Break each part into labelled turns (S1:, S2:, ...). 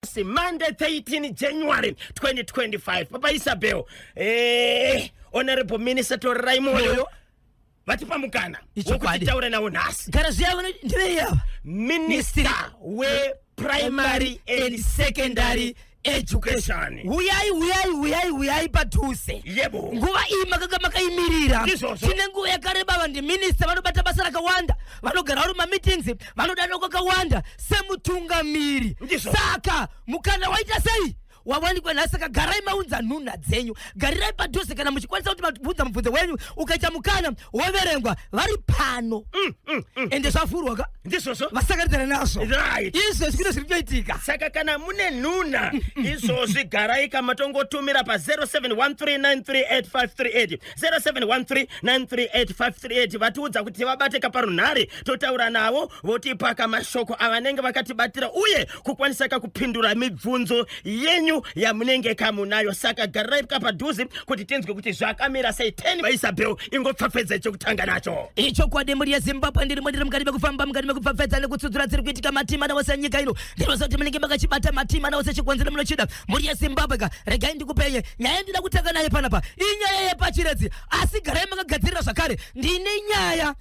S1: nhasi monday 13 january 2025 papa isabel eh, honorable minister torirai moyo vatipa mukana Ichokwadi. wokutitaura navo nhasi gara zviya vano ndivei ava minister weprimary and secondary education huyai huyai huyai
S2: huyai padhuze yebo nguva
S1: iyi makanga
S2: makaimirira Ndizvozvo. tine nguva yakareba vanhu ndiminista vanobata basa rakawanda vanogara vari mumameetings vanodanwa kwakawanda semutungamiri saka mukana waita sei wawanikwa nhasi saka garai maunza nhunha dzenyu garirai padhuze kana muchikwanisa kuti mabvunza mubvunzo wenyu ukaita mukana woverengwa vari pano mm, mm, mm. ende zvavhurwa ka ndizvozvo vasakaridzana
S1: nazvo
S2: izvozvi kune
S1: zviri kutoitika
S2: saka kana mune
S1: nhunha izvozvi garai kamatongotumira pa 0713938538 0713938538 vatiudza kuti vabate kaparunhare totaura navo votipa kamashoko avanenge vakatibatira uye kukwanisa kakupindura mibvunzo yenyu yamunenge kamunayo saka garirai kapadhuze kuti tinzwe kuti zvakamira sei 10 vaisabel ingopfapfedza chekutanga nacho ichokwadi mhuri
S2: yezimbabwe ndirimo ndiri mukati mekufamba mukati mekupfapfedza nekutsudzura dziri kuitika matima newose nyika ino ndinoziva kuti munenge makachibata matima nawo sechikonzero munochida mhuri yezimbabwe ka regai ndikupenye nyaya yandida kutanga naye panapa inyaya yepachiredzi asi garai makagadzirira zvakare ndine nyaya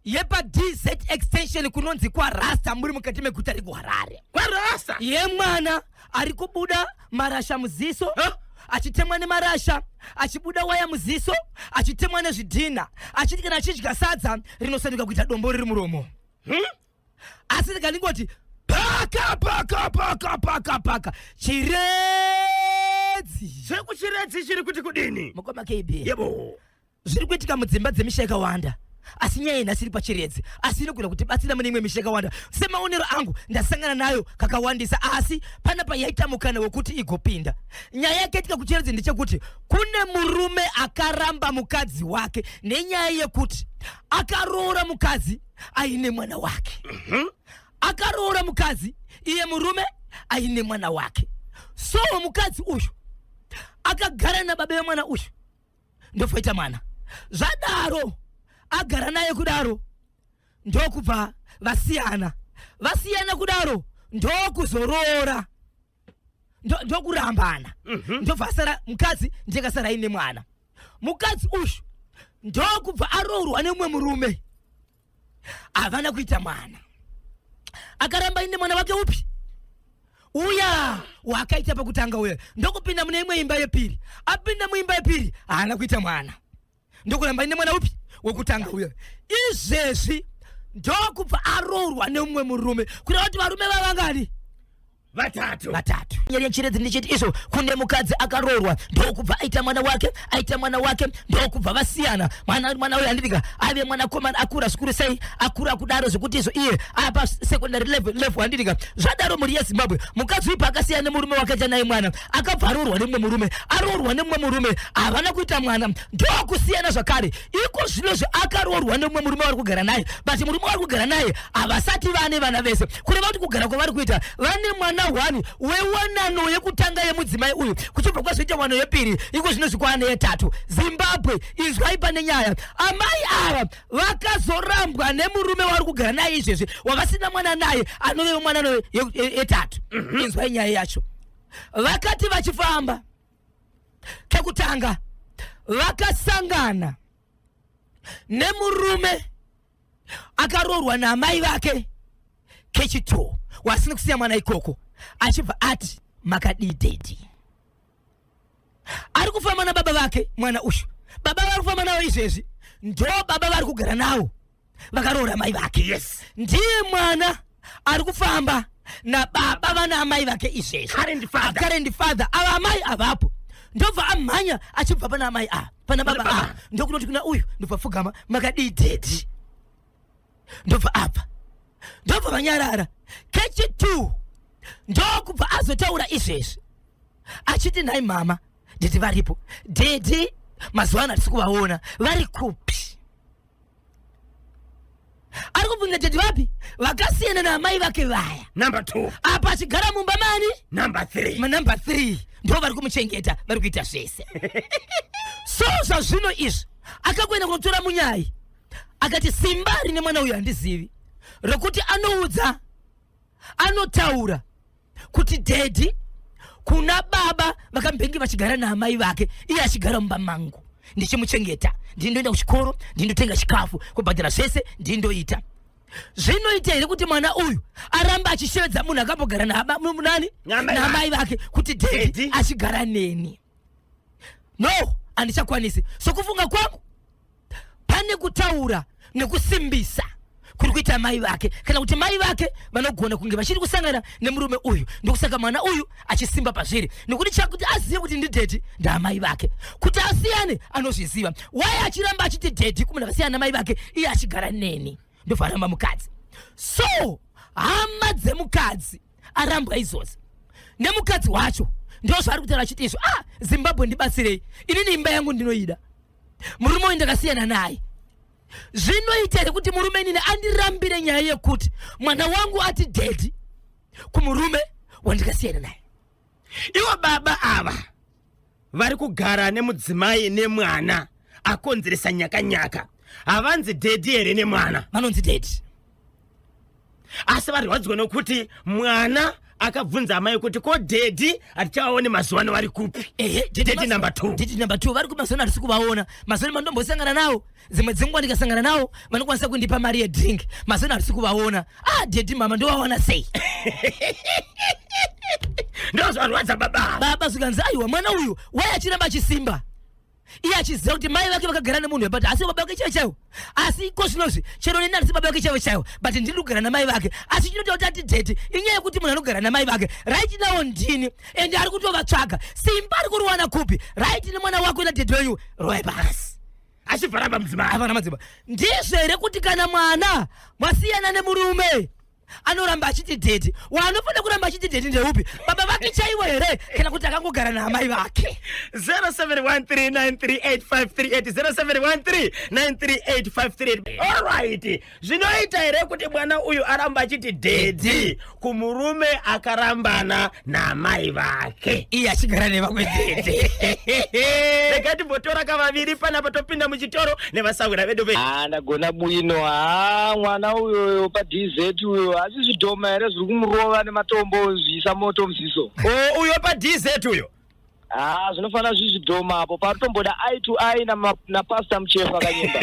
S2: yepadz extension kunonzi kwarasta muri mukati meguta rekuharare kwarasta
S1: yemwana
S2: ari kubuda marasha muziso huh? achitemwa nemarasha achibuda waya muziso achitemwa nezvidhinha achiti kana achidya sadza rinosanduka kuita dombo riri muromo hmm? asi rega ndingoti paka paka paka paka paka chiredzi zveku
S1: chiredzi chiri kuti kudini mukoma kb yebo zviri kuitika
S2: mudzimba dzemisha yakawanda asi nyaya nhasi iri pachiredzi asi inogona kuti batsira mune imwe misha yakawanda semaonero angu ndasangana nayo kakawandisa asi pana payaita mukana wekuti igopinda nyaya yakaitika kuchiredzi ndechekuti kune murume akaramba mukadzi wake nenyaya yekuti akaroora mukadzi aine mwana wake mm -hmm. akaroora mukadzi iye murume aine mwana wake so mukadzi uyu akagara nababa vemwana uyu ndofoita mwana zvadaro agara naye kudaro ndokubva vasiyana vasiyana kudaro ndokuzoroora ndokurambana mhm. ndobva asara mukadzi ndikasara ine mwana mukadzi uyu ndokubva aroorwa neumwe murume havana kuita mwana akaramba ine mwana wake upi uya wakaita pakutanga uya ndokupinda mune imwe imba yepiri apinda muimba yepiri haana kuita mwana ndokuramba ine mwana upi wekutanga uyo izvezvi ndokubva aroorwa neumwe murume kureva kuti varume vavangani vatatu
S1: vatatu nyaya
S2: yechiredzi ndichiti izvo kune mukadzi akaroorwa ndokubva aita mwana wake aita mwana wake ndokubva vasiyana mwana mwana uyo anditika aive mwana komana akura zvikuru sei akura kudaro zvekuti izvo iye apa secondary level level anditika zvadaro mhuri yezimbabwe mukadzi uyu paakasiyana nemurume wakaita naye mwana akabva aroorwa nemumwe murume aroorwa nemumwe murume havana kuita mwana ndokusiyana zvakare iko zvino zvaakaroorwa nemumwe murume vari kugara naye but murume vari kugara naye havasati vane vana vese kureva kuti kugara kwavari kuita vane mwana hwani wewanano yekutanga yemudzimai uyu kuchibva kwazoita wano yepiri iko zvino zvikwane yetatu zimbabwe izwai pane nyaya amai ava vakazorambwa nemurume wavari kugara naye izvezvi wavasina mwana naye anove mwana yetatu mhm. inzwai nyaya yacho vakati vachifamba kekutanga vakasangana nemurume akaroorwa naamai vake kechitoo wasina kusiya mwana ikoko achibva ati makadii dedi ari kufamba nababa vake mwana uyu baba vari kufamba navo izvezvi ndo baba vari kugara navo vakaroora mai vake yes ndiye
S1: mwana
S2: ari kufamba nababa vana amai vake izvezvi current father ava amai avapo ndobva amhanya achibva pana amai ava pana baba ava ndokunoti kuna uyu ndobva pfugama makadii dedi ndobva apa ndobva vanyarara kechi two ndokubva azotaura izvezvi achiti nhai mama nditi varipo dedi mazuva ano hatisi kuvaona vari kupi ari kubvunza tete vapi vakasiyana naamai vake vaya number two apa
S1: achigara mumba
S2: mani number three
S1: manumber three
S2: ndo vari kumuchengeta vari kuita zvese so zvazvino izvi akakuenda kunotora munyai akati simba rine mwana uyu handizivi rokuti anoudza anotaura kuti dhedhi kuna baba vakambenge vachigara naamai vake iye achigara mumba mangu ndichimuchengeta ndii ndoenda kuchikoro ndii ndotenga chikafu kubhadhara zvese ndii ndoita zvinoita here kuti mwana uyu aramba achishevedza munhu akambogara nani naamai vake kuti dhedhi achigara neni no handichakwanisi sokufunga kwangu pane kutaura nekusimbisa kuri kuita mai vake kana kuti mai vake vanogona kunge vachiri kusangana nemurume uyu ndokusaka mwana uyu achisimba pazviri nekuti chakuti azive kuti ndidhedhi ndaamai vake kuti asiyane anozviziva waye achiramba achiti dhedhi kumunhu akasiyana namai vake iye achigara neni ndofaramba mukadzi so hama dzemukadzi arambwa izvozvi nemukadzi wacho ndozvaari kutaura achiti izvo ah zimbabwe ndibatsirei inini imba yangu ndinoida murume uyu ndakasiyana naye zvinoita here kuti murume inini andirambire nyaya yekuti mwana wangu ati dedi kumurume wandikasiyana naye ivo
S1: baba ava vari kugara nemudzimai nemwana akonzeresa nyakanyaka havanzi dedi here nemwana vanonzi dedi asi varwadziwa nokuti mwana akabvunza amai kuti ko dedi hatichavaone mazuva ano vari kupi dedi number two dedi number two vari kupi mazuva ano
S2: hatisi kuvaona mazuva ano mandombosangana nawo dzimwe dzenguva ndikasangana nawo vanokwanisa kundipa mari yedrink mazeno hatisi kuvaona ah dedi mama ndovaona sei
S1: ndozvarwadza baba baba zvikanzi aiwa mwana
S2: uyu wai achiramba achisimba iye achiziva kuti mai vake vakagara nemunhu webati asi baba vake chaivo chaivo asi iko zvinozvi chero neni handisi baba vake chaivo chaivo but ndiri kugara namai vake asi chinoita kuti ati dheti inyaya yekuti munhu anogara namai vake raiti nawo ndini ende ari kutovatsvaga simba ari kuriwana kupi raiti nemwana wako nadheti wenyu roe basi achibva ramba mudzimai
S1: avana madzimba ndizvo here
S2: kuti kana mwana mwasiyana nemurume anoramba achiti dhedhi waanofanira kuramba achiti dhedhi ndeupi baba vake chaivo here kana kuti akangogara naamai vake 0713938538
S1: 0713938538 alright zvinoita here kuti mwana uyu aramba achiti dhedhi kumurume akarambana naamai vake iye achigara nevamwe
S2: dhedhi
S1: rega timbotora kavaviri panapa topinda muchitoro nevasahwira vedu ve Ah, ndagona bwino
S3: haa mwana uyoyo padz uyo asi zvidhoma here zviri kumurova nematombo zviisa moto muziso o uyo padz
S1: uyo Ah, zvinofanira
S3: zvizvidhoma apo patotomboda eye to eye na, na pastor muchefa kanyemba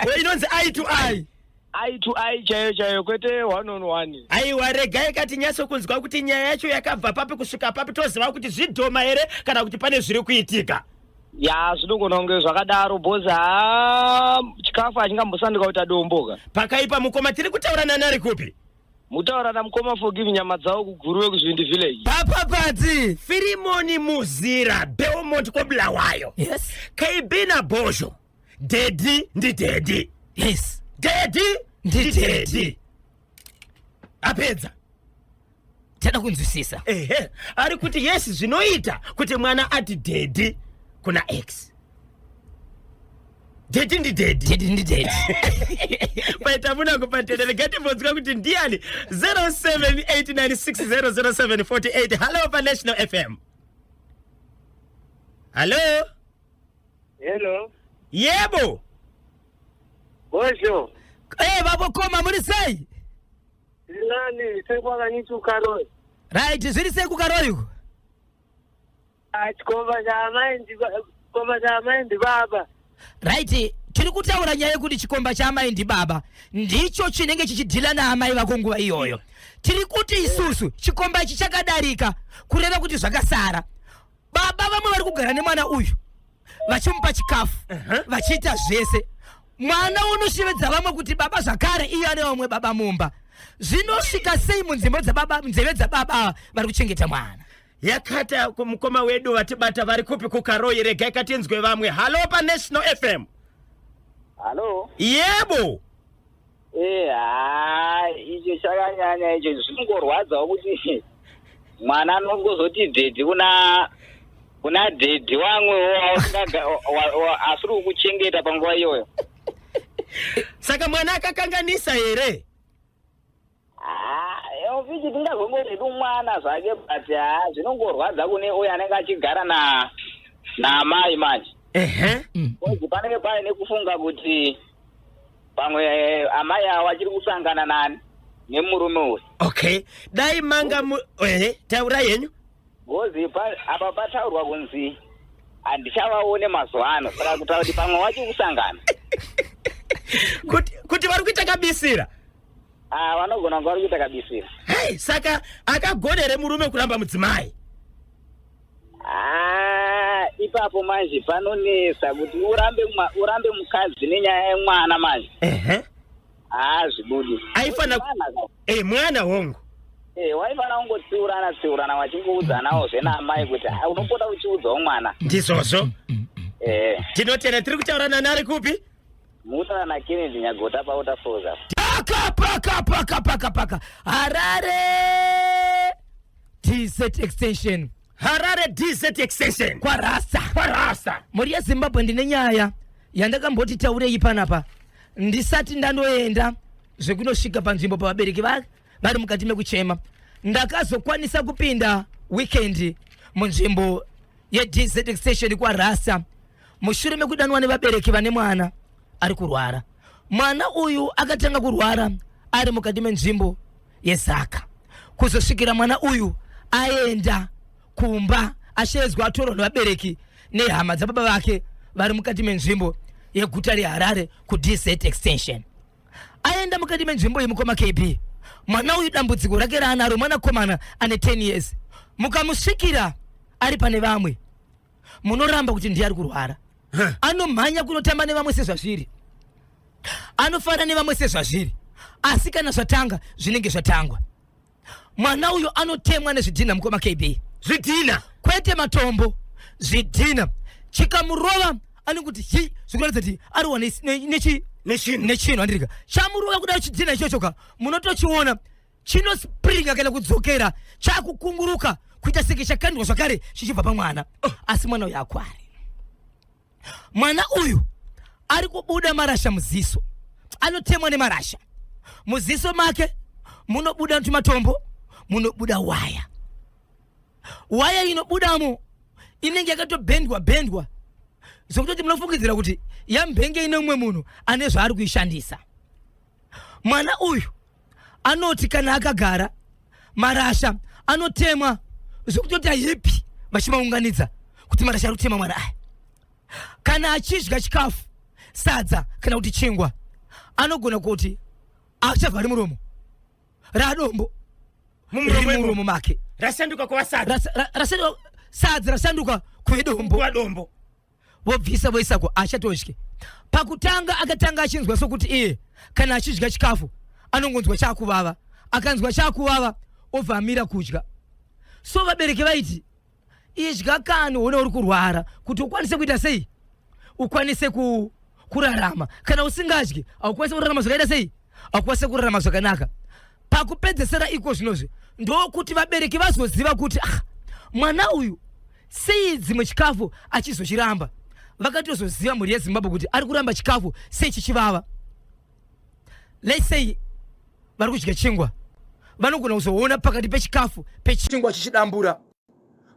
S3: we inonzi
S1: eye to eye eye to eye
S3: chaiyo chaiyo kwete one on one aiwa regai
S1: katinyatso kunzwa kuti nyaya yacho yakabva papi kusvika papi toziva kuti zvidhoma here kana kuti pane zviri kuitika ya zvinogona
S3: kunge zvakadaro bhozi ha chikafu hachingambosanduka kuita domboka pakaipa mukoma tiri
S1: kutaura nani ari kupi Mutaura na
S3: mukoma forgive nyama dzawo kuguruwe kuzvindi village. Papa Padzi,
S2: Firimoni
S1: Muzira, Beaumont kwa Bulawayo. Yes. KB
S2: na
S1: Bosho. Daddy ndi daddy. Yes.
S2: Daddy
S1: ndi daddy. Apedza.
S2: tana kunzwisisa ehe ari kuti
S1: yes zvinoita kuti mwana ati dedi kuna x dedi ndi dedi dedi ndi dedi paita muna kupatenda regai timbonzwa kuti ndiani 0789600748 hallo panational fm hallo hello yebo bosho
S3: e babokoma
S2: muri sei Zinani
S3: seku akanyitu karoi. Right, zviri
S2: seku karoi uko. Chikomba
S3: chaamai chikomba chaamai ndibaba. Right,
S2: tiri kutaura nyaya yekuti chikomba chaamai ndibaba ndicho chinenge chichidhila naamai vako nguva iyoyo. Tiri kuti isusu chikomba ichi chakadarika kureva kuti zvakasara. baba vamwe vari kugara nemwana uyu vachimupa chikafu vachiita zvese mwana unoshevedza vamwe kuti baba zvakare iye ane vamwe baba mumba zvinosvika sei munzeve dzababa munzeve dzababa ava vari kuchengeta mwana yakata ku-
S1: mukoma wedu vatibata vari kupi kukaroyi regai katinzwe vamwe halo panational fm Halo,
S3: yebo
S1: Eh, haa
S3: icho chakanyanya icho zvinongorwadzawo kuti mwana anongozoti dhedhi kuna kuna dhedhi wamwewo wausinganga- wa- wa- wa- asiri kukuchengeta panguva iyoyo
S1: saka mwana akakanganisa here
S3: Elviji tingazongoti tumwana zvake but haa zvinongorwadza kune uyo anenge achigara na naamai manje ehe kozi panenge pave nekufunga kuti pamwe eh, amai avo vachiri kusangana nani nemurume uyu okay dai
S1: manga mu ehe taurai henyu kozi pa-
S3: apa pataurwa kunzi handichavaone mazuva ano saka kutaura kuti pamwe vachiri kusangana kuti
S1: kuti vari kuita kabisira Ah, vanogona
S3: kunge vari kuita kabisira. Hey, saka
S1: akagona here murume kuramba mudzimai? Ah,
S3: ipapo manje panonetsa kuti urambe urambe mukadzi nenyaya yemwana manje. Ehe. Ah, zvibudi. Aifana
S1: Eh, mwana hongu. Eh, waifana
S3: kungotsiurana tsiurana wachingouzanawo zvena amai kuti ah, unopota uchiudzawo mwana. Ndizvozvo.
S1: Eh. Tinotenda tiri kutaurana nari kupi? Musa na
S3: Kennedy Nyagota pa waterfalls apa. Paka paka paka paka
S2: paka. Harare TZ extension. Harare DZ
S1: extension. Kwa rasta. Kwa
S2: rasta. Muri ya Zimbabwe ndine nyaya yandakamboti taurei panapa ndisati ndanoenda zvekunosvika panzvimbo pavabereki vake vari mukati mekuchema ndakazokwanisa kupinda weekend munzvimbo yedz extension kwarasa mushure mekudanwa nevabereki vane mwana ari kurwara mwana uyu akatanga kurwara ari mukati menzvimbo yezaka kuzosvikira mwana uyu aenda kumba ashedzwa atorwa nevabereki nehama dzababa vake vari mukati menzvimbo yeguta reharare kudz extension aenda mukati menzvimbo yemukoma kb mwana uyu dambudziko rake raanaro mwanakomana ane 10 years mukamusvikira ari pane vamwe munoramba kuti ndiye ari kurwara anomhanya kunotamba nevamwe sezvazviri anofana nevamwe sezvazviri asi kana zvatanga zvinenge zvatangwa mwana uyo anotemwa nezvidhina mukoma kb zvidhina
S1: kwete matombo
S2: zvidhina chikamurova anenge kuti hi zvikuratidza kuti ariwa nechi nechinhu handirika chamurova kuda chidhina ichocho ka munotochiona chinospringa kana kudzokera chakukunguruka kuita seke chakandwa zvakare chichibva pamwana oh. asi mwana uyu akwari mwana uyu ari kubuda marasha muziso anotemwa nemarasha muziso make munobuda tumatombo munobuda waya waya inobudamo inenge yakatobhendwa bhendwa zvekutoti munofungidzira kuti yambhenge ine umwe munhu ane zvaari kuishandisa mwana uyu anoti kana akagara marasha anotemwa zvekutoti ayipi vachimaunganidza kuti marasha ari kutemwa mwana aya kana achidya chikafu sadza kana kuti chingwa anogona kuti achavhari muromo radombo mumuromo make rasanduka
S1: kuva sadza
S2: rasanduka kuve dombo vobvisa voisa ko achatodye pakutanga akatanga achinzwa sokuti iye kana achidya chikafu anongonzwa chakuvava akanzwa chakuvava obva amira kudya so vabereki vaiti idya kani uone uri kurwara kuti ukwanise kuita sei ukwanise ku, kurarama kana usingadyi haukwanise kurarama zvakaita sei hakukwanisa kurarama zvakanaka pakupedzesera iko zvinozvi ndokuti vabereki vazoziva kuti ah, mwana uyu sei dzimwe chikafu achizochiramba vakatozoziva mhuri yezimbabwe kuti ari kuramba chikafu sei chichivava lesei vari kudya chingwa vanogona kuzoona pakati pechikafu pechingwa chichidambura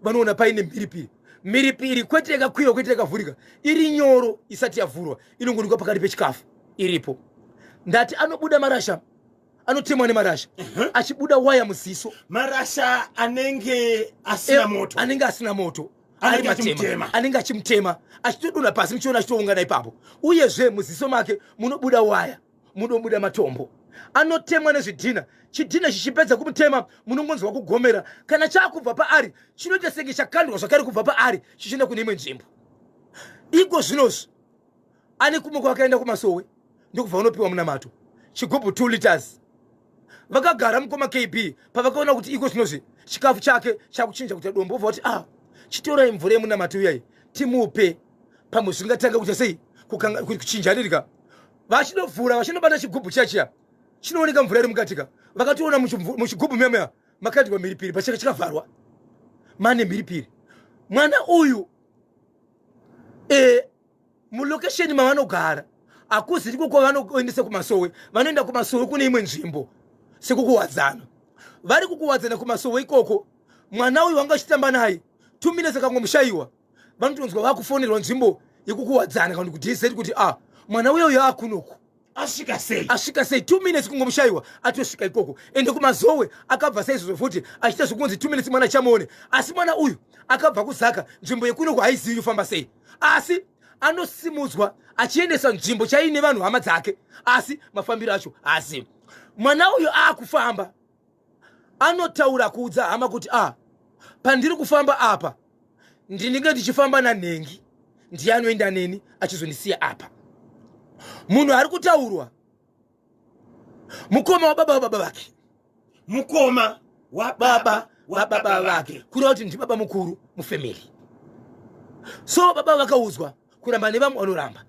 S2: vanoona paine mhiripiri mhiripiri kwete yakakwira kwete yakavhurika iri nyoro isati yavhurwa inongonikwa pakati pechikafu iripo ndati anobuda marasha anotemwa nemarasha uh-huh. achibuda waya muziso marasha
S1: anenge asina eh, moto anenge asina moto
S2: anenge achimutema achitodona pasi muchiona achitoungana ipapo uyezve muziso make munobuda waya munobuda matombo anotemwa nezvidhina chidhina chichipedza kumutema munongonzwa kugomera kana chaakubva paari chinoita senge chakandwa zvakare kubva paari chichienda kune imwe nzvimbo iko zvinozvi ane kumwe kwakaenda kumasowe ndokubva unopiwa munamato chigubhu 2 liters vakagara mukoma kb pavakaona kuti iko zvinozvi chikafu chake chakuchinja kuita dombo obva kuti a ah, chitorai mvura yemunamato uyai timupe pamwe zvingatanga kuita sei kuchinjanirika vachinovhura vachinobata chigubhu chachiya chinooneka mvura iri mukatika vakatoona muchigubhu memeya makaitwa mhiripiri pachaka chakavharwa mane mhiripiri mwana uyu e, mulokesheni mavanogara hakuzi ndiko kwavanoendesa kumasowe vanoenda kumasowe kune imwe nzvimbo sekukuwadzana vari kukuwadzana kumasowe ikoko mwana uyu wanga achitamba naye two minutes akangomushayiwa vanotonzwa vakufonerwa nzvimbo yekukuwadzana kana kuti dseti kuti a ah, mwana uyo uyo akunoku asvika
S1: sei asvika sei two minutes
S4: kungomushaiwa atosvika ikoko ende kumazowe akabva saizvozvo futi achiita zvekunzi two minutes mwana chamuone asi mwana uyu akabva kuzaka nzvimbo yekunoku haizivi yofamba sei asi anosimudzwa achiendesa nzvimbo chaiine vanhu hama dzake asi mafambiro acho haazivi mwana uyu aakufamba anotaura kuudza hama kuti a ah, pandiri kufamba apa ndinenge ndichifamba nanhengi ndiye anoenda neni achizondisiya apa munhu ari kutaurwa mukoma wababa wababa vake mukoma
S1: wababa
S4: wababa vake kureva kuti ndibaba mukuru mufamily so baba vakaudzwa kuramba nevamwe vanoramba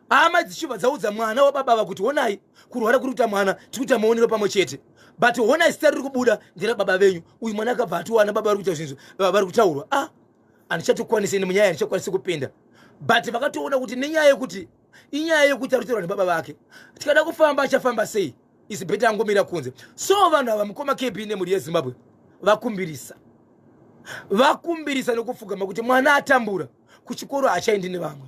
S4: hama dzichibva dzaudza mwana wababa ava kuti honai kurwara kuri kuita mwana tiri kuita maonero pamwe chete but honai sita riri kubuda ndera baba venyu uyu mwana akabva atiwana baba vari kuita zvinhu vari kutaurwa a ah, handichatokwanise nemunyaya handichakwanise kupinda but vakatoona kuti nenyaya yekuti inyaya yekuti ari kutaurwa nebaba vake tikada kufamba achafamba sei isi beta angomira kunze so vanhu ava mukoma kb nemhuri yezimbabwe vakumbirisa vakumbirisa nekufugama kuti mwana atambura kuchikoro hachaendi nevamwe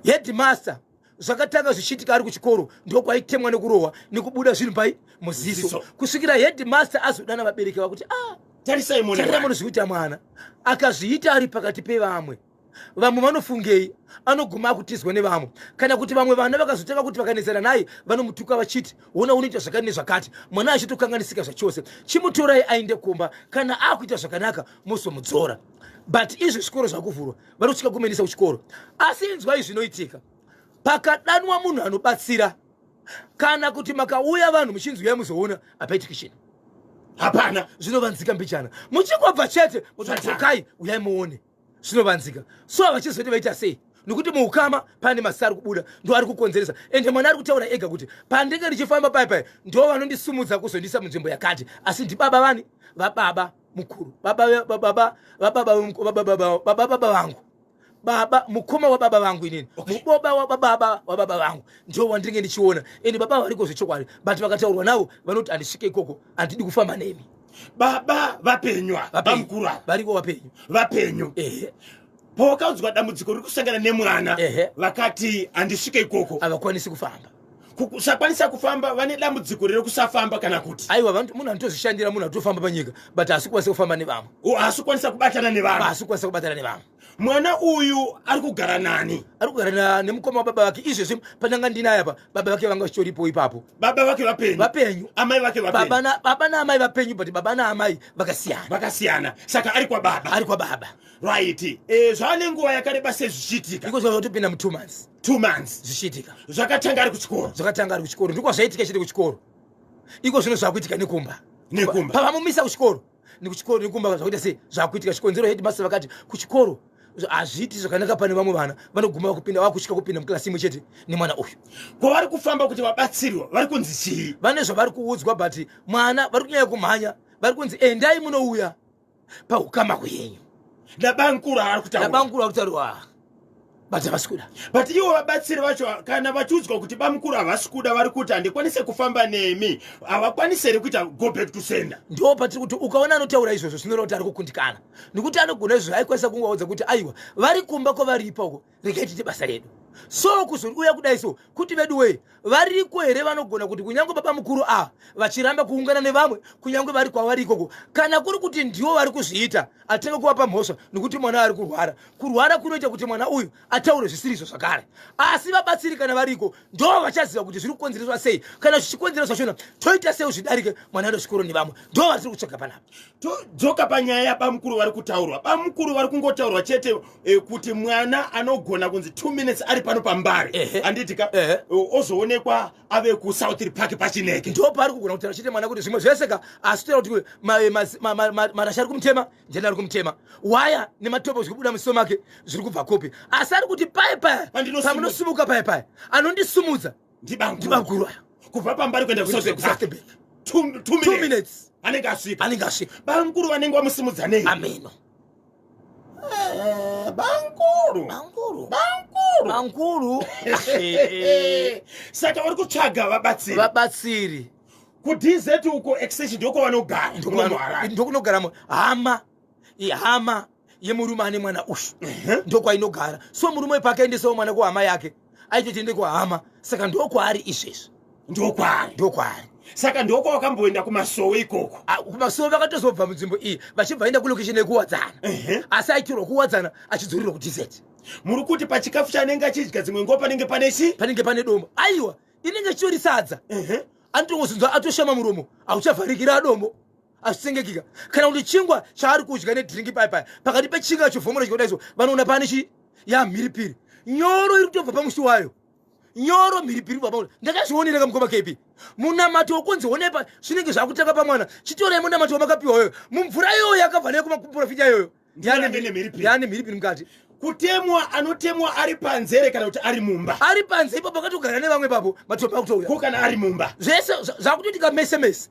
S4: headmaster zvakatanga zvichiitika ari kuchikoro ndokwaitemwa nekurohwa nekubuda zvinhu pai muziso kusvikira headmaster azodana vabereki vakuti ah, tarisai
S1: mono zvikuita
S4: mwana akazviita ari pakati pevamwe vamwe vanofungei anoguma akutizwa nevamwe kana kuti vamwe vana vakazotanga kuti vakanetsana naye vanomutuka vachiti ona unoita zvakati nezvakati mwana achitokanganisika zvachose chimutorai ainde kumba kana akuita zvakanaka mozomudzora but izvi zvikoro zvakuvhurwa vanotsika kumenisa kuchikoro asi inzwai zvinoitika pakadanwa munhu anobatsira kana kuti makauya vanhu muchinzi uyai muzoona hapaitiki chino hapana
S1: zvinovanzika mbichana
S4: muchingobva chete mutadzokai uyai muone zvinovanzika so havachizoti vaita sei nokuti muukama pane masita ari kubuda ndo ari kukonzeresa ende mwana ari kutaura ega kuti pandenge ndichifamba pai pai ndo vanondisumudza kuzondisa munzvimbo yakati asi ndibaba vani vababa mukuru baba baba baba baba baba vangu baba mukoma wababa vangu inini muboba wababa wababa vangu ndio wandinge ndichiona ende baba variko zvechokwadi but vakataurwa navo vanoti handisvike ikoko handidi kufamba nemi baba
S1: vapenywa bamukuru ava variko vapenyu
S4: vapenyu
S1: ehe pawakaudzwa dambudziko riri kusangana nemwana vakati handisvike ikoko havakwanisi kufamba
S4: kusakwanisa
S1: kufamba vane dambudziko rere kusafamba kana kuti aiwa munhu anotozvishandira
S4: munhu atofamba panyika but haasi kwanisa kufamba nevamwe haasi kwanisa kubatana
S1: nevamwe haasi kwanisa kubatana nevamwe
S4: mwana
S1: uyu ari kugara nani ari kugara nemukoma
S4: wababa vake izvezvi pandanga ndinaya pa baba vake vanga vachitoripo ipapo baba vake vapenyu
S1: vapenyu amai
S4: vake
S1: baba naamai vapenyu
S4: but baba naamai vakasiyana vakasiyana saka ari kwababa
S1: ari kwababa right eh, zvava nenguva yakareba sei zvichiitika iko zvava zvotopinda mu two months
S4: two months zvichiitika
S1: zvakatanga
S4: ari kuchikoro
S1: zvakatanga ari kuchikoro ndiko zvaitika chete kuchikoro iko zvino zvakuitika nekumba nekumba pavamumisa kuchikoro nekuchikoro nekumba zvakuita sei zvakuitika chikonzero headmaster vakati kuchikoro hazviiti zvakanaka pane vamwe vana vanoguma vakupinda vakutya kupinda muklasi imwe chete nemwana uyu kwavari kufamba kuti vabatsirwa vari kunzi chii vane zvavari kuudzwa
S4: but mwana vari kunyanya kumhanya vari kunzi endai munouya pahukama hwenyu nabankuru
S1: aari kutaurabamkuru ari kutaurwa
S4: but havasi kuda but ivo vabatsiri
S1: vacho kana vachiudzwa kuti bamukuru havasi kuda vari kuti handikwanise kufamba nemi havakwanise here kuita go back to sender ndo patiri kuti ukaona
S4: anotaura izvozvo zvinoreva kuti ari kukundikana nekuti anogona izvozvo aikwanisa kungovaudza kuti aiwa vari kumba kwavari ipoko regai tiite basa redu so kuzouya kudai so kuti vedu wee variko here vanogona kuti kunyange baba mukuru ava vachiramba kuungana nevamwe kunyange vari kwavari ikoko kana kuri kuti ndiwo vari kuzviita atenge kuvapa mhosva nokuti mwana ari kurwara kurwara kunoita kuti mwana uyu ataure zvisirizvo zvakare asi vabatsiri kana variko ndo vachaziva kuti zviri kukonzereswa sei kana zvichikonzera zvachona toita sei zvidarike mwana ndo zvikoro nevamwe ndo vari tiri kutsvaga panapa todzoka panyaya
S1: yabamukuru vari kutaurwa bamukuru vari kungotaurwa chete eh, kuti mwana anogona kunzi two minutes ari pano pambari handiti ka eh, ozoonekwa ave kusouthry park pachineke ndo paari kugona kutaura chete
S4: mwana kuti zvimwe zvese ka asi toera kuti marasha ari kumutema jena ari kumutema waya nematopo zviri kubuda musiso make zviri kubva kupi asi ari kuti paye paye pamunosimuka paye paye anondisumudza ndibanguru aya kubva pambari kuenda
S1: kusatebek two
S4: minutes anenge asvika anenge
S1: asvika bamkuru vanenge
S4: vamusimudza
S1: nei ameno
S4: eh, bamkuru bamkuru bamkuru bamkuru
S1: saka vari kutsvaga vabatsiri vabatsiri
S4: kudz
S1: uko extension ndokovanogara ndokunogara
S4: hama ihama yemurume ane mwana uyu ndokwainogara so murume uyu paakaendesawo mwana kuhama yake aitotiende kuhama saka ndokwaari izvezvi ndokwaari
S1: ndokwaari saka ndoko wakamboenda kumasowe ikoko ah, kumasowe vakatozobva
S4: munzvimbo iyi vachibva enda kulokishini yekuwadzana asi aitirwa kuwadzana achidzorerwa kudz muri kuti
S1: pachikafu chanenge achidya dzimwe nguva panenge pane chi panenge pane doma
S4: aiwa inenge chitori sadza anotongozunzwa atoshama muromo hauchavharikira adombo azvisengekika kana kuti chingwa chaari kudya nedrinki paya paya pakati pechinga chovhomora chikoda iso vanoona pane chi yamhiripiri nyoro iri kutobva pamusi wayo nyoro mhiripiri baba uri ndakazvionera kamukoma kepi munamato wokunzi onepa zvinenge zvakutanga pamwana chitorei munamato wamakapiwa yoyo mumvura iyoyo yakabva neyo kumaprofita iyoyo ndiani mhiripiri mukati kutemwa
S1: anotemwa ari panze here kana kuti ari mumba ari panze ipapo akatogara
S4: nevamwe ipapo matopa kutouya ko kana ari mumba
S1: zvese zvakutoitika
S4: mese mese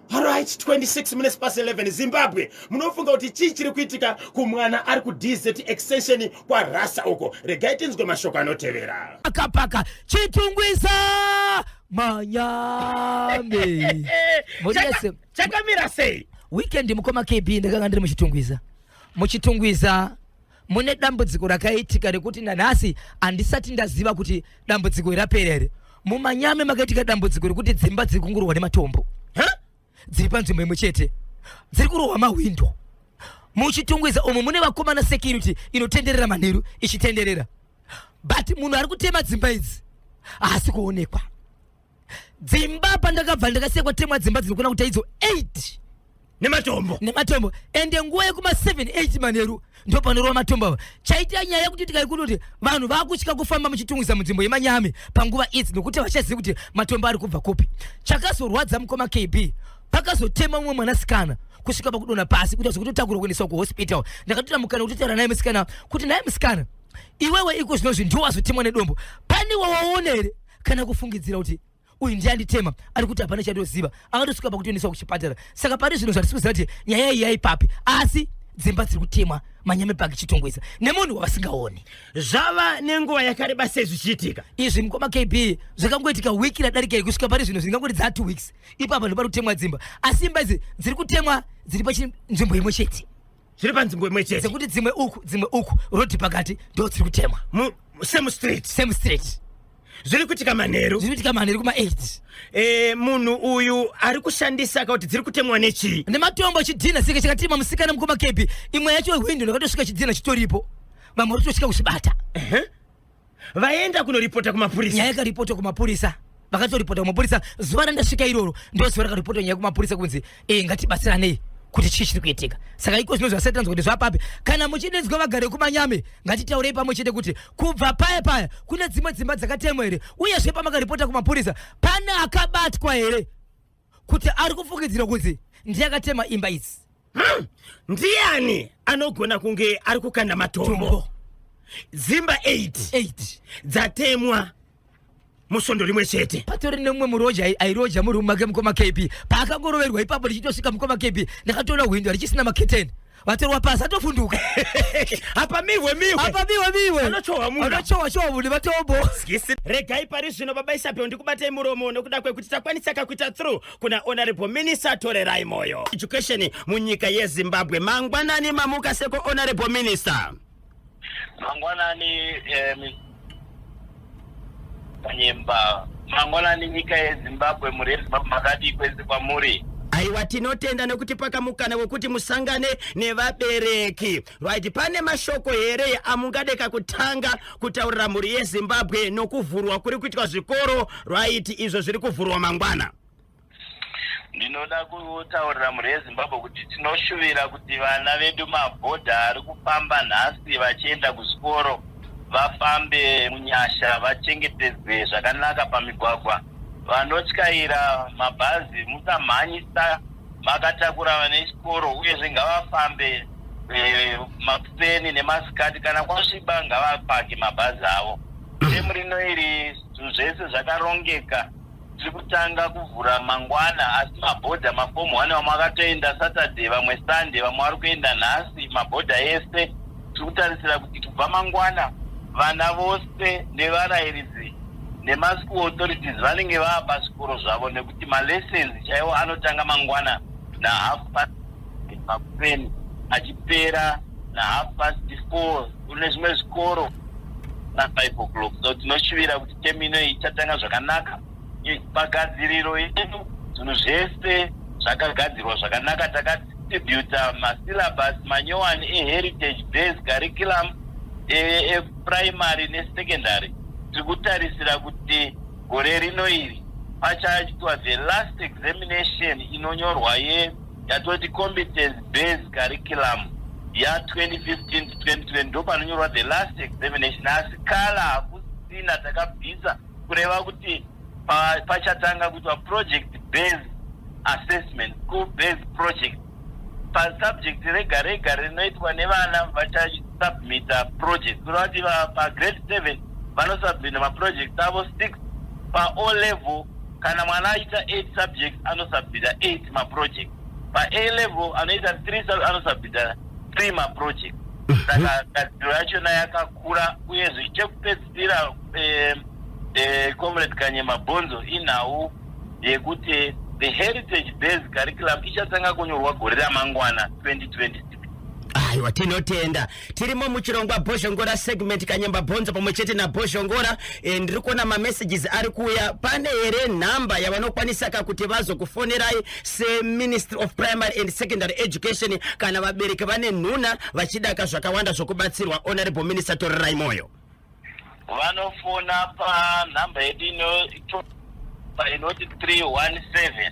S1: Alright, 26 minutes past 11 Zimbabwe munofunga kuti chii chiri kuitika kumwana ari ku DZ extension kwa Rasa uko regai tinzwe mashoko anotevera akapaka
S2: chitungwiza manyame chakamira sei
S1: weekend mukoma kb
S2: ndakanga ndiri muchitungwiza muchitungwiza mune dambudziko rakaitika rekuti nanhasi handisati ndaziva kuti dambudziko irapera here mumanyame makaitika dambudziko rekuti dzimba dziri kungurwa nematombo dziri panzvimbo imwe chete dziri kurohwa mahwindo muchitungwiza umo mune vakomana security inotenderera manheru ichitenderera but munhu ari kutema dzimba idzi haasi kuonekwa dzimba pandakabva ndakasekwa temwa dzimba dzinokona kuita idzo 8 nematombo nematombo ende nguva yekuma 78 manheru ndopanorova matombo ava chaita nyaya yekuti tikaikuti kuti vanhu vakutya kufamba muchitungisa munzvimbo yemanyame panguva idzi nokuti vachazivi kuti matombo ari kubva kupi chakazorwadza mukoma kb pakazotema mumwe mwanasikana kusvika pakudona pasi kuita zvekutotakurwa kuendeswa kuhospital ndakatoita mukana kutotaura naye musikana kuti naye musikana iwewe iko zvino zvinhu ndowazotemwa nedombo pane wawaonere kana kufungidzira kuti uyu ndiye anditema ari kuti hapana chandoziva akatosvika pakutoendeswa kuchipatara saka pane zvinhu zvatisi kuziva kuti nyaya iyi yaipapi asi dzimba dziri kutemwa manyame paki chitongwisa nemunhu wavasingaoni zvava
S1: nenguva yakareba sei zvichiitika izvi mukoma kb
S2: zvakangoitika wiki radarika iyi kusvika pari zvino zvingangoti dzaa two weeks ipapa ndopari kutemwa dzimba asi imba idzi dziri kutemwa dziri pachinzvimbo imwe chete zviri panzvimbo imwe
S1: chete dzekuti dzimwe uku dzimwe
S2: uku rodhi pakati ndo dziri kutemwa Mu- same street
S1: same street zviri kuitika manheru zviri kuitika manheru kuma 8 Eh,
S2: munhu uyu
S1: ari kushandisa akakuti dziri kutemwa nechii nematombo chidhina
S2: sika chakatima musikana mukoma kepi imwe yacho hwindo ndakatosvika chidhina chitoripo vamwe vachitosvika kuchibata Ehe.
S1: vaenda kunoripota kumapurisa nyaya yakaripotwa kumapurisa
S2: vakatoripota kumapurisa zuva randasvika iroro ndoziva rakaripotwa nyaya kumapurisa kunzi e ngatibatsiranei kuti chii chiri kuitika saka iko zvino zvasati tanzwa kuti zvapapi kana muchidedzwa vagare kumanyame ngatitaurei pamwe chete kuti kubva paya paya kune dzimwe dzimba dzakatemwa here uyezve pamakaripota kumapurisa pane akabatwa here kuti ari kufungidzirwa kuti ndiye akatema imba idzi hmm. ndiani
S1: anogona kunge ari kukanda matombo dzimba 88 dzatemwa musvondo rimwe chete patori nemumwe muroja
S2: airoja murume make mukoma kepi paakangoroverwa ipapo richitosvika mukoma kepi ndakatoona hwindo richisina maketeni vatorwa pasi atovhunduka apa
S1: mihwe mihwe apa mihwe mihwe vanochohwa
S2: munhu vanochohwa chohwa munhu vatombo skisi regai
S1: pari zvino baba isabel ndikubatei muromo nokuda kwekuti takwanisa kakuita through kuna honorable minister torerai moyo education munyika yezimbabwe mangwanani mamuka seko honorable minister
S3: mangwanani eh, nyemba mangwanani nyika yezimbabwe mhuri yezimbabwe makadii kwese kwamuri aiwa tinotenda
S1: nekuti pakamukana wekuti musangane nevabereki right pane mashoko here amungadeka kutanga kutaurira mhuri yezimbabwe nokuvhurwa kuri kuitwa zvikoro right izvo zviri kuvhurwa mangwana
S3: Ndinoda kutaurira mhuri yeZimbabwe kuti tinoshuvira kuti vana vedu mabhodha ari kufamba nhasi vachienda kuzvikoro vafambe munyasha vachengetedzwe zvakanaka pamigwagwa. Vanotyaira mabhazi musamhanyisa makatakura vana vechikoro uyezve ngavafambe eh, makuseni nemasikati kana kwasviba ngavapake mabhazi avo. Temu rino iri zvinhu zvese zvakarongeka tiri kutanga kuvhura mangwana asi mabhodha mafomu one vamwe akatoenda saturday vamwe sunday vamwe vari kuenda nhasi mabhodha ese tiri kutarisira kuti kubva mangwana vana vose nevarairidzi nemaschool authorities vanenge vava pazvikoro zvavo nekuti malessons chaiwo anotanga mangwana nahafu makuseni achipera nahalf past four kune zvimwe zvikoro nafive o'clock so tinoshuvira kuti temu ino ichatanga zvakanaka pagadziriro yedu zvinhu zvese zvakagadzirwa zvakanaka takadistributa masyllabus manyowani eheritage base curriculum eprimary e, e nesecondary tiri kutarisira kuti gore rino iri pachaitwa the last examination inonyorwa ye yatoti competence based curriculum ya 2015 to 2020 ndo panonyorwa the last examination asi kala hakusina takabvisa kureva kuti pachatanga pa kuitwa project based assessment school based project pasubject rega rega rinoitwa nevana vachasubmita project kureva kuti pagrade seven vanosubmita maproject avo six paolevel Kana mwana aita 8 subjects anosubmita 8 maproject. PaA level anoita 3 anosubmita 3 maproject. Mhm. Saka gadziro yachona yakakura uyezve chekupedzisira eh, eh, Comrade Kanye Mabhonzo inhau yekuti the heritage based curriculum ichatanga kunyorwa gore ramangwana 2026 aiwa
S1: tinotenda tirimo muchirongwa bhozhongora segment kanyemba bhonzo pamwe chete nabhozhongora e, ndiri kuona mamessages ari kuuya pane here nhamba yavanokwanisa ka kuti vazokufonerai seministry of primary and secondary education kana vabereki vane nhuna vachidaka zvakawanda zvokubatsirwa honorable minister torirai moyo
S3: vanofona panhamba yedu inoti 317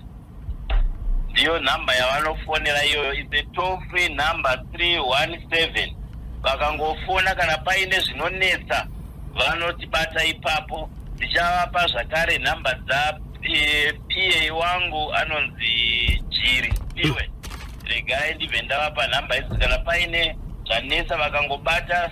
S3: ndiyo nhamba yavanofonera iyoyo is a toll free number 317 vakangofona kana paine zvinonetsa vanotibata ipapo ndichavapa zvakare nhamba dza eh, pa wangu anonzi jiri iwe regai ndibve ndavapa nhamba idzi kana paine zvanetsa vakangobata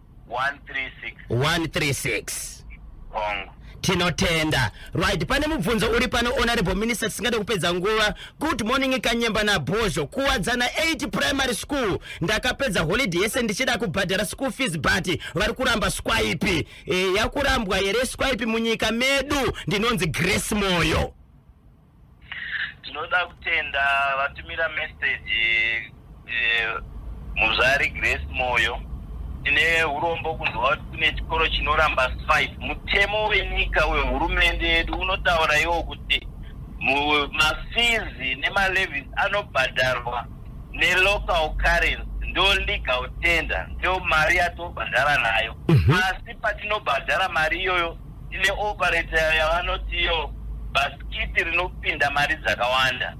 S3: 136 hongu tinotenda
S1: right pane mubvunzo uri pano honorable minister tisingade kupedza nguva good morning kanyemba nabhozho kuwadzana 8 primary school ndakapedza holiday yese ndichida kubhadhara school fees but vari kuramba swipe e, yakurambwa here swipe munyika medu ndinonzi grace moyo Tinoda
S3: kutenda vatumira message eh, muzvari Grace Moyo. Tine hurombo kunzwa kuti kune chikoro chinoramba five. Mutemo wenyika wehurumende yedu unotaura iwo kuti mu- mafizi nemalevies anobhadharwa nelocal currency ndo legal tender ndo mari yatobhadhara nayo asi patinobhadhara mari iyoyo Tine operator yavanoti iyo bhasikiti rinopinda mari dzakawanda,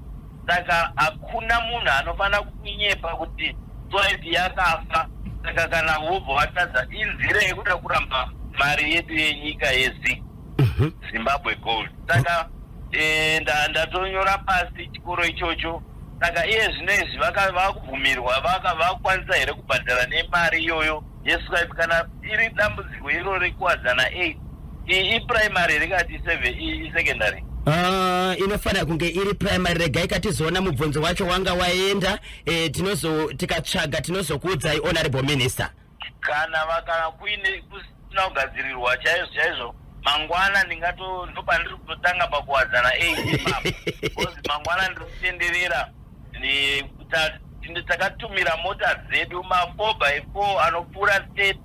S3: saka hakuna munhu anofanira kunyepa kuti soipi yakafa. Saka kana vobva vatadza inzira yekuda kuramba mari yedu yenyika yezi Mhm. zimbabwe gold saka eh, nda- ndatonyora pasi chikoro ichocho saka iye zvino izvi vaka- vakubvumirwa vaka- vakukwanisa here kubhadhara nemari iyoyo Yes wife kana iri dambudziko iro rekuwadzana 8 iyi iprimary here kana ti 7 iyi isecondary Ah,
S1: inofanira kunge iri primary regai katizoona mubvunzo wacho wanga waenda eh, tinozo tikatsvaga tinozokuudzai honorable minister kana
S3: vakana kuine kusina kugadzirirwa chaizvo chaizvo mangwana ndingato ndopandiri kutotanga pakuwadzana 8 ipapo because mangwana ndiri kutenderera takatumira mota dzedu ma4 by 4 anopfuura state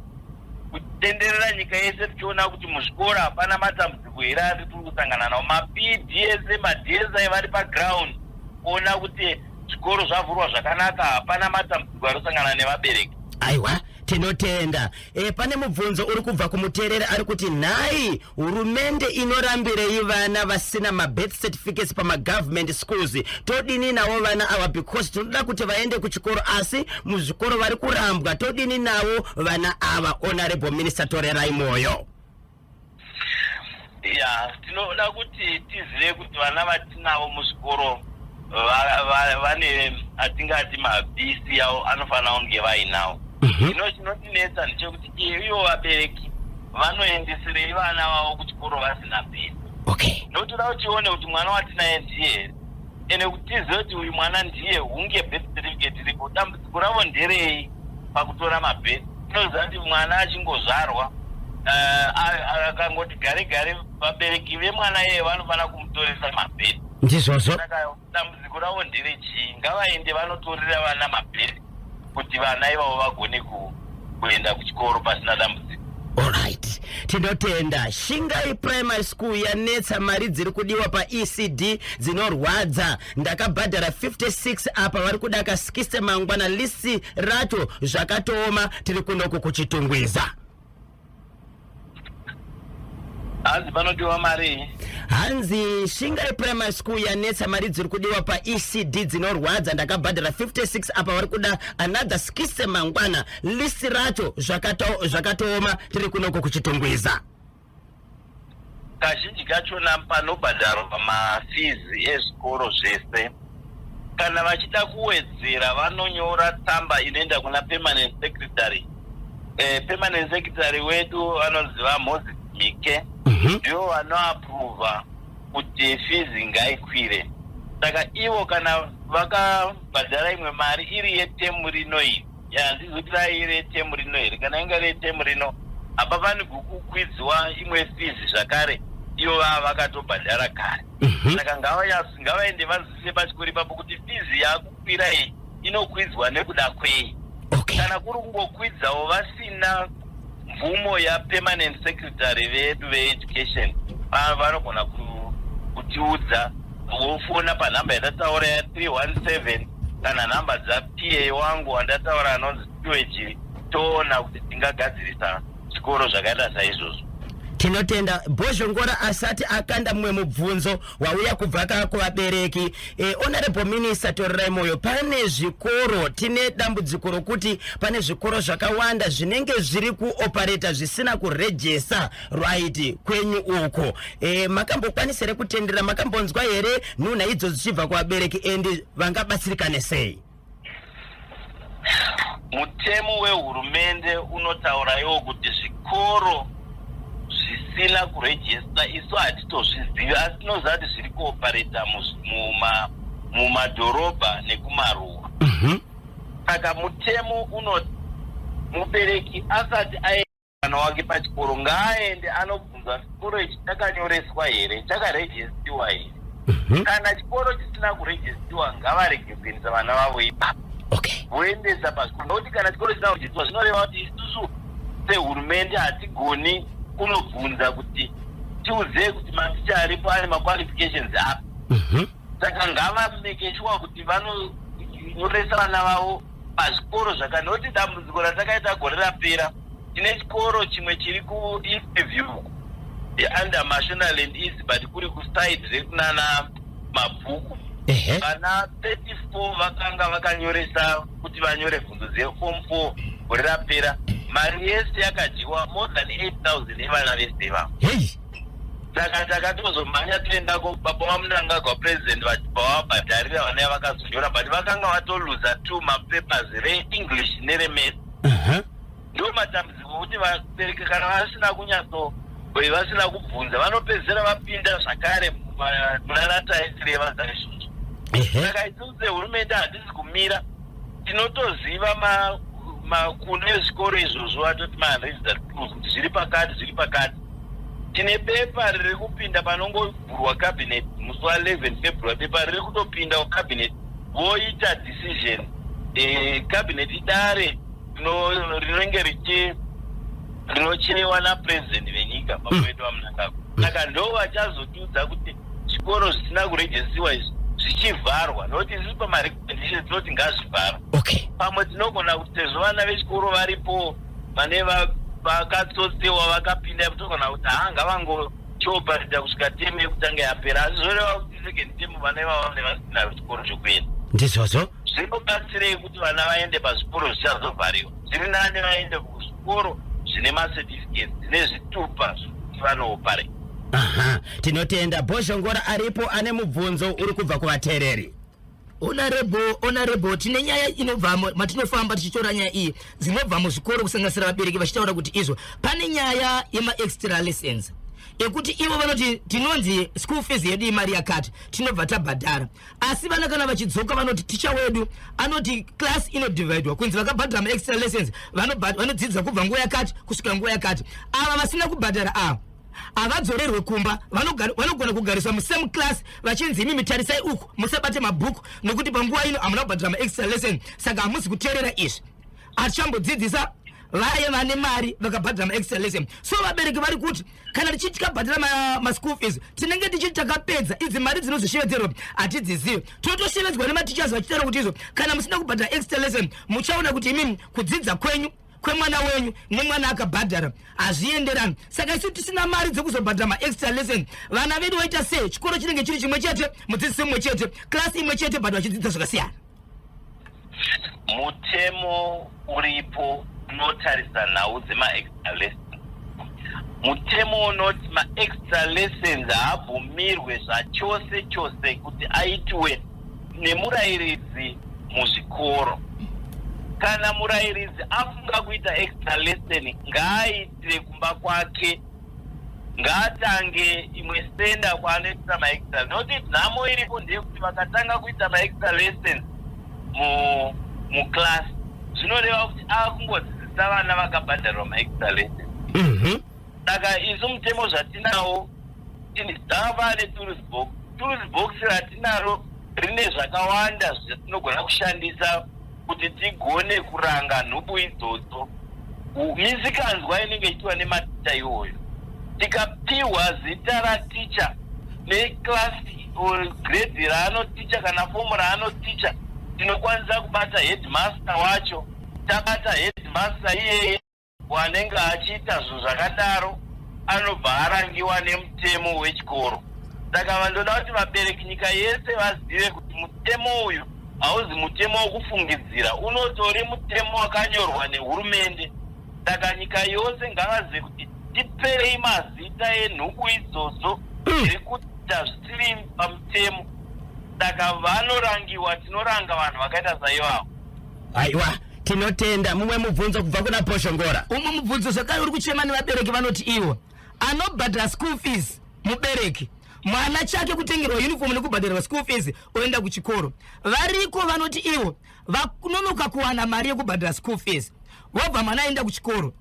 S3: kutenderera nyika yese tichiona kuti muzvikoro hapana matambudziko here ari tiri kusangana nawo mapdsa madsa vari paground kuona kuti zvikoro zvavhurwa zvakanaka hapana matambudziko ari kusangana nevabereki aiwa
S1: tinotenda e, pane mubvunzo uri kubva kumuteereri ari kuti nhai Hurumende inorambirei vana vasina mabirth certificates pamagovernment schools todini navo vana ava because tinoda kuti vaende kuchikoro asi muzvikoro vari kurambwa todini navo vana ava honorable minister torerai mwoyo ya
S3: tinoda kuti tizive kuti vana vatinavo muzvikoro vane atingati mabisi avo anofanira kunge vainawo mhm. zvino chinotinetsa ndechekuti ivo vabereki vanoendesirei vana vavo kuchikoro vasina bisi okay ndotoda kuti tione kuti mwana watinaye ndiye here ende kuti tizive kuti uyu mwana ndiye hunge birth certificate iripo dambudziko ravo nderei pakutora mabirth tinoziva kuti mwana achingozvarwa eh, akangoti gare gare vabereki vemwana iyeye vanofanira kumutoresa mabirth ndizvozvo saka
S1: dambudziko
S3: ravo ndere chii ngavaende vanotorera vana mabheri kuti vana ivavo vagone kuenda kuchikoro pasina dambudziko orit
S1: tinotenda shingai primary school yanetsa mari dziri kudiwa paecd dzinorwadza ndakabhadhara 56 apa vari kuda ka 60 mangwana lisi racho zvakatooma tiri kunoku kuchitungwiza
S3: hanzi panodiwa marii hanzi
S1: shingai primary school yanetsa mari dziri kudiwa paecd dzinorwadza ndakabhadhara 56 apa vari kuda another skise mangwana list racho zvakatooma tiri kunoko kuchitungwiza
S3: Kazhinji kachona panobhadharwa mafizi ezvikoro zvese. Kana vachida kuwedzera vanonyora tsamba inoenda kuna permanent secretary. Eh, permanent secretary wedu vanonzi vaMoses Mike Mhm. ndivo vanoaprova kuti fizi ngaikwire. Saka ivo kana vakabhadhara imwe mari iri yetemu rino iyi ya ndizo kuti dai iri temu rino here kana inga iri temu rino hapafanirwi kukwidziwa imwe fizi zvakare iyo vava vakatobhadhara kare mhm. saka ngavaende vanzwisise pachikoro ipapo kuti fizi yakukwira iyi inokwidzwa nekuda kwei kana kuri kungokwidzawo vasina mvumo yapermanent secretary vedu veeducation vanogona kutiudza vofona panhamba yatataura ya 317 kana nhamba dzapiye wangu wandataura anonzi tiwejiri toona kuti tingagadzirisa zvikoro zvakaita saizvozvo tinotenda
S1: bhozhongora asati akanda mumwe mubvunzo wauya kubva ka kuvabereki e, honorable minister torerai moyo pane zvikoro tine dambudziko rokuti pane zvikoro zvakawanda zvinenge zviri kuopareta zvisina kurejesa right kwenyu uko e, makambokwanisa here kutendera makambonzwa here nhunha idzo dzichibva kuvabereki and vangabatsirikane sei
S3: Mutemo wehurumende unotauraiwo kuti zvikoro zvisina kurejista isu hatitozvizivi asi tinoziva kuti zviri kuopareta mumadhorobha nekumaruwa mhm. saka mutemo unoti mubereki asati ae mwana wake pachikoro ngaaende anobvunza chikoro ichi chakanyoreswa here chakarejestiwa here Mhm. kana chikoro chisina kurejestiwa ngavarege kuendesa vana vavo ipapo okay voendesa pachikoro nokuti kana chikoro chisina kurejestiwa zvinoreva kuti isusu sehurumende hatigoni kunobvunza kuti tiudzei kuti maticha aripo ane maqualifications api Mhm. saka ngavamekeshuwa kuti vanonyoresa vana vavo pazvikoro zvaka noti dambudziko ratakaita gore rapera tine chikoro chimwe chiri kuinterview under mashonaland east but kuri kuside rekunana mabhuku ehe vana 34 vakanga vakanyoresa kuti vanyore bvunzo dzefom 4 gore rapera mari yese yakadyiwa more than 8000 yevana vese ivavo heyi saka takatozomhanya toenda kubaba vamunangagwa president vachibva vabhadharira vana vakazonyora but vakanga vatoluza two mapapers reenglish neremesi ndo matambudziko kuti vabereki kana vasina kunyatso vasina kubvunza vanopedzisira vapinda zvakare munanata esireva saizvozvo saka isusu sehurumende handisi kumira tinotoziva makuno ezvikoro izvozvo atoti mahandredsat zviri pakati zviri pakati tine bepa riri kupinda panongovhurwa cabinet musi wa 11 february bepa riri kutopindawo cabinet voita decision e, cabinet idare rinenge richi rinochenewa napresident venyika baba hmm. vedu vamunangagwa hmm. saka ndo vachazotiudza kuti zvikoro zvisina kurejesiwa izvi zvichivharwa nokuti ziri pamarecommendation tinoti ngazvivharwa pamwe
S2: tinogona
S3: kuti sezvo vana vechikoro varipo pane vakatsotsewa vakapinda yekutoona kuti haa ngavangotiobharidha kusvika temu yekutanga yapera asi zvoreva kuti second temu vana ivavo vane vasina zvikoro zvekuenda ndizvozvo
S1: zvinobatsirei
S3: kuti vana vaende pazvikoro zvichazovhariwa zviri nani vaende kuzvikoro zvine macertificate dzine zvitupa zvekuti vanoopare aha
S1: tinotenda bhozhongora aripo ane mubvunzo uri kubva kuvateereri Honorable,
S2: honorable, tine nyaya inobva matinofamba tichitora nyaya iyi dzinobva muzvikoro kusanganisira vabereki vachitaura kuti izvo pane nyaya yemaextra lessons ekuti ivo vanoti tinonzi school fees yedu imari yakati tinobva tabhadhara asi vana kana vachidzoka vanoti ticha wedu anoti class inodivhaidwa kunzi vakabhadhara maextra lessons vanodzidza kubva nguva yakati kusvika nguva yakati ava vasina kubhadhara ava havadzorerwe kumba vanogona kugariswa musame class vachinzi imi mitarisai uku musabate mabhuku nokuti panguva ino hamuna kubhadhira maextra lesson saka hamusi kuteerera izvi atichambodzidzisa vaye vane mari vakabhadhira maextra lesson so vabereki vari kuti kana tichiti tikabhadhira maschool fees tinenge tichiti takapedza idzi mari dzinozoshevedzerwa hatidzizive totoshevedzwa nematichers vachitaura kuti izvo kana musina kubhadhira extra lesson muchaona kuti imi kudzidza kwenyu kwemwana wenyu nemwana akabhadhara hazvienderani saka isu tisina mari dzekuzobhadhara maextra lesson vana vedu voita sei chikoro chinenge chiri chimwe chete mudzidzisi mumwe chete klasi imwe chete but vachidzidza zvakasiyana
S3: mutemo uripo unotarisa nhau dzemaextra lesson mutemo unoti maextra lessons haabvumirwe zvachose chose kuti aitiwe nemurairidzi muzvikoro kana murairidzi afunga kuita extra lesson ngaaitire kumba kwake ngaatange imwe stenda kwaanoitisa maextra noti nhamo iripo ndeyekuti vakatanga kuita maextra lesson muclass zvinoreva kuti akungodzidzisa vana vakabhadharwa maextra lesson mhm. saka isu mutemo zvatinawo dzava netools box tools box ratinaro rine zvakawanda zvatinogona kushandisa kuti tigone kuranga nhubu idzodzo misikanzwa inenge ichiwa nematicha iwoyo tikapiwa zita raticha neclass or grade raanoticha kana fomu raanoticha tinokwanisa kubata headmaster wacho tabata headmaster iyeye Anenge achiita zvinhu zvakadaro anobva arangiwa nemutemo wechikoro. Saka vandoda kuti vabereki nyika yese vazive kuti mutemo uyu hauzi mutemo wokufungidzira, unotori mutemo wakanyorwa nehurumende. Saka nyika yose ngavazive kuti tiperei mazita enhubu idzodzo mm. dziri kuita zvisiri pamutemo. Saka vanorangiwa, tinoranga vanhu vakaita saivavo. aiwa
S1: tinotenda mumwe mubvunzo kubva kuna poshongora umwe mubvunzo zvakare
S2: uri kuchema nevabereki vanoti iwo anobhadhara school fees mubereki mwana chake kutengerwa uniform nekubhadharwa school fees oenda kuchikoro variko vanoti ivo vanonoka kuwana mari yekubhadhara school fees wobva mwana aenda kuchikoro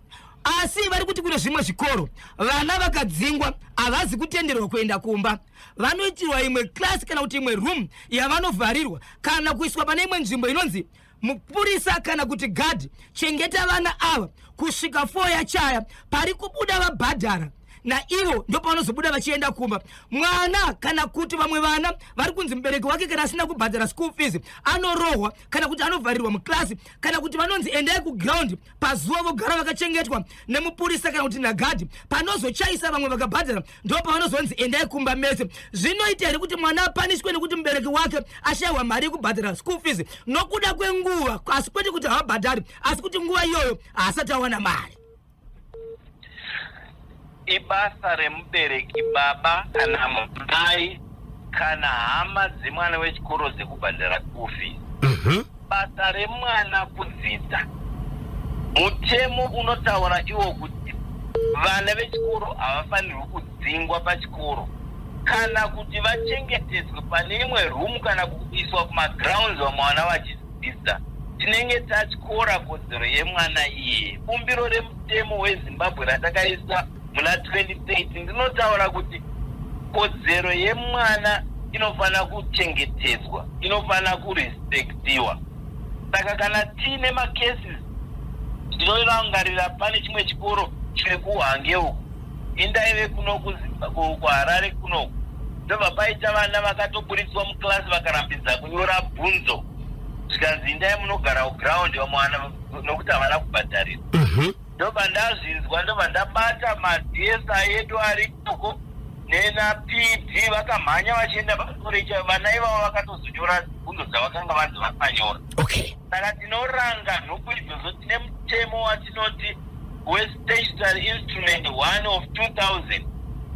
S2: asi vari kuti kune zvimwe zvikoro vana vakadzingwa havazi kutenderwa kuenda kumba vanoitirwa imwe class kana kuti imwe room yavanovharirwa kana kuiswa pane imwe nzvimbo inonzi mupurisa kana kuti gadhi chengeta vana ava kusvika fo yachaya pari kubuda vabhadhara naivo ndopavanozobuda vachienda kumba mwana kana kuti vamwe vana vari kunzi mubereki wake kana asina kubhadhara school fees anorohwa kana kuti anovharirwa muklasi kana kuti vanonzi endai kuground pazuva vogara vakachengetwa nemupurisa kana kuti nagadhi panozochaisa vamwe vakabhadhara ndopavanozonzi endai kumba mese zvinoita here kuti mwana apanishwe nekuti mubereki wake ashaiwa mari yekubhadhara school fees nokuda kwenguva asi kwete kuti havabhadhari asi kuti nguva iyoyo haasati awana mari
S3: ibasa remubereki baba kana mudai kana hama dzemwana wechikoro dzekubhadhara school fees Mhm. basa remwana kudzidza mutemo unotaura iwo kuti vana vechikoro havafanirwi kudzingwa pachikoro kana kuti vachengetedzwe pane imwe room kana kuiswa kumagrounds vamwe vana vachidzi Sister, tinenge tatyora kodzero yemwana iye. Bumbiro remutemo weZimbabwe ratakaisa muna 2030 ndinotaura kuti kodzero yemwana inofanira kuchengetedzwa, inofanira kurespectiwa. Saka kana tiine macases ndinorangarira pane chimwe chikoro chiri kuhange uku indaive kuno kuharare kuno ndobva paita vana vakatoburitswa muclass vakarambidza kunyora bvunzo zvikanzi indai munogara kuground vamwana nokuti havana kubhadharira mhm. ndobva ndazvinzwa ndobva ndabata madsa edu ari koko nena pd vakamhanya vachienda pakorecha vana ivavo vakatozonyora bvunzo dzavakanga vanzi vakanyora okay Saka tinoranga nhubu idzodzo tine mutemo watinoti wespecial instrument one of 2000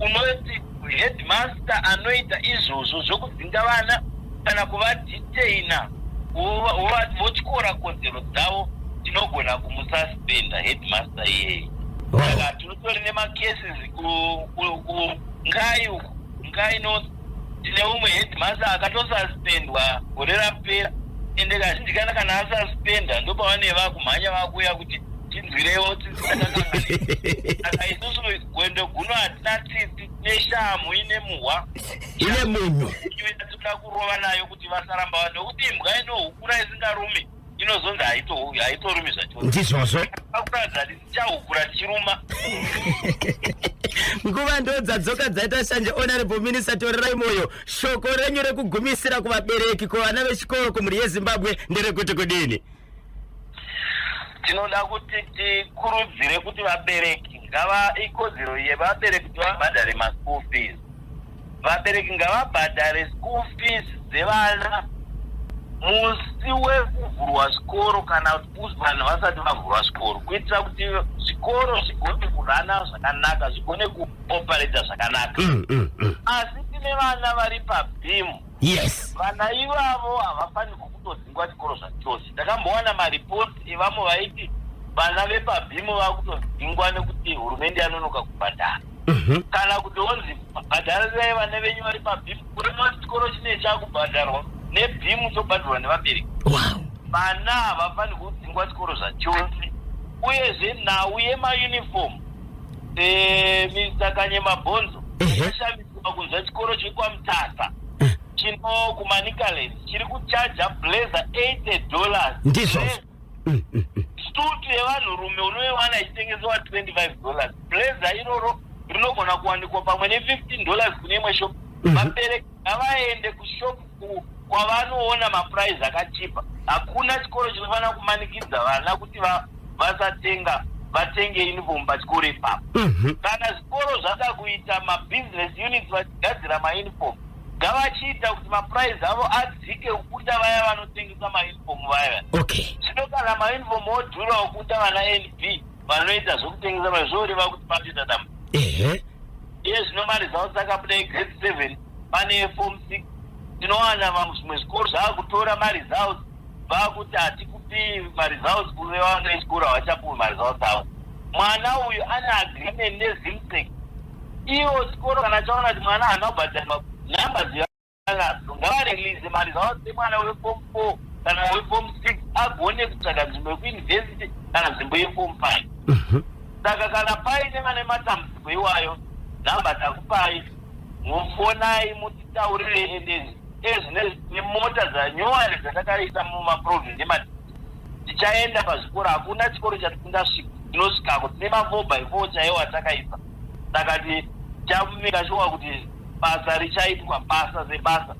S3: unoti headmaster anoita izvozvo zvokudzinga vana kana kuvadetaina votyora kodzero dzavo tinogona kumususpenda headmaster iyeyi saka tinotori nemacases kungai uku ngai north Tine umwe headmaster akatosuspendwa gore rapera ende kazhinji kana kana asuspenda ndopavanee vakumhanya vakuuya kuti tinzwirewo tinzwireaka isusu gwendo guno hatina tsitsi neshamhu ine muhwa ine munhu
S1: inoda kurova
S3: nayo kuti vasaramba vanhu nokuti imbwa inohukura isingarumi inozonzi haito- haitorumi zvachose ndizvozvo
S1: akuradza
S3: tichahukura tichiruma
S1: nguva ndo dzadzoka dzaita shanje honorable minister torerai moyo shoko renyu rekugumisira kuvabereki kuvana vechikoro kumhuri yezimbabwe nderekuti kudini
S3: tinoda kuti tikurudzire kuti vabereki ngava ikodzero yevabereki kuti vabhadhare maschool fees Vabereki ngavabhadhare school fees dzevana musi wekuvhurwa zvikoro kana kuti vanhu vasati vavhurwa zvikoro kuitira kuti zvikoro zvigone kurana zvakanaka zvigone kuopareta zvakanaka mm, mm, mm. asi tine vana vari pabhimu yes vana
S1: ivavo
S3: havafanirwi kutodzingwa zvikoro zvachose takambowana maripoti evamwe vaiti vana vepabhimu vava kutodzingwa nekuti hurumende yanonoka kubhadhara Mhm. kana kuti wonzi bhadharirai vana venyu vari pabhimu kurema chikoro chine chakubhadharwa nebhimu chobhadharwa nevabereki wow vana havafaniri kudzingwa chikoro zvachose uyezve nhau yemayuniform eh, mr kanyema bhonzo Ehe. yashamiswa kunzwa chikoro chiri kwamutasa chino kumanicaland chiri kuchaja blazer 80 dollars Ndizvo. stutu yevanhurume unoiwana ichitengesewa 25 dollars blazer iroro rinogona kuwanikwa pamwe ne15 dollars kune imwe shop mhm. vabereki ngavaende kushop kwavanoona mapurize akachipa hakuna chikoro chinofanira kumanikidza vana kuti vasatenga vatenge uniform pachikoro ipapo mhm. kana zvikoro zvada kuita mabusiness units vachigadzira mauniform ngavachiita kuti maprice avo adzike ukuta vaya vanotengesa mauniform vaya okay zvino kana mauniform odhura ukuta vana nb vanoita zvokutengesa mai zvoreva kuti patoita dama ehe iye zvino mari zavo dzakabuda igrade seven pane efom six tinowana vamwe zvimwe zvikoro zvaakutora mari zavo vakuti hatikupi mari zavo kuve vanoisikoro havachapuwi mari zavo dzavo mwana uyu ane agreement nezimsec Iwo chikoro kana chaona kuti mwana haana kubhadharwa number dzevana ngavarelease mari dzavo dzemwana weform four kana weform six agone kutsvaga nzvimbo yekuuniversity kana nzvimbo yeform five mhm. saka kana paine vane matambudziko iwayo number takupai mufonai mutitaurire ende ezvine nemota dzanyowani dzatakaisa mumaprovince emadii tichaenda pazvikoro hakuna chikoro chatisingasvika tinosvikako tine mafoba ifoo chaiwo atakaisa saka tichamira shuwa kuti basa richaitwa basa sebasa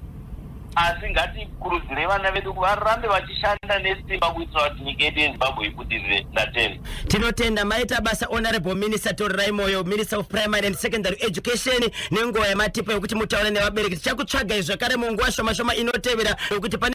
S3: asi ngatikurudzire vana vedu varambe vachishanda nesimba kuitira kuti nyika yedu yezimbabwe ibudirire ndatenda tinotenda maita
S1: basa honorable minister torirai moyo minister of primary and secondary education nenguva yamatipa yokuti mutaure nevabereki tichakutsvagai zvakare munguva shoma shoma inotevera yokuti pane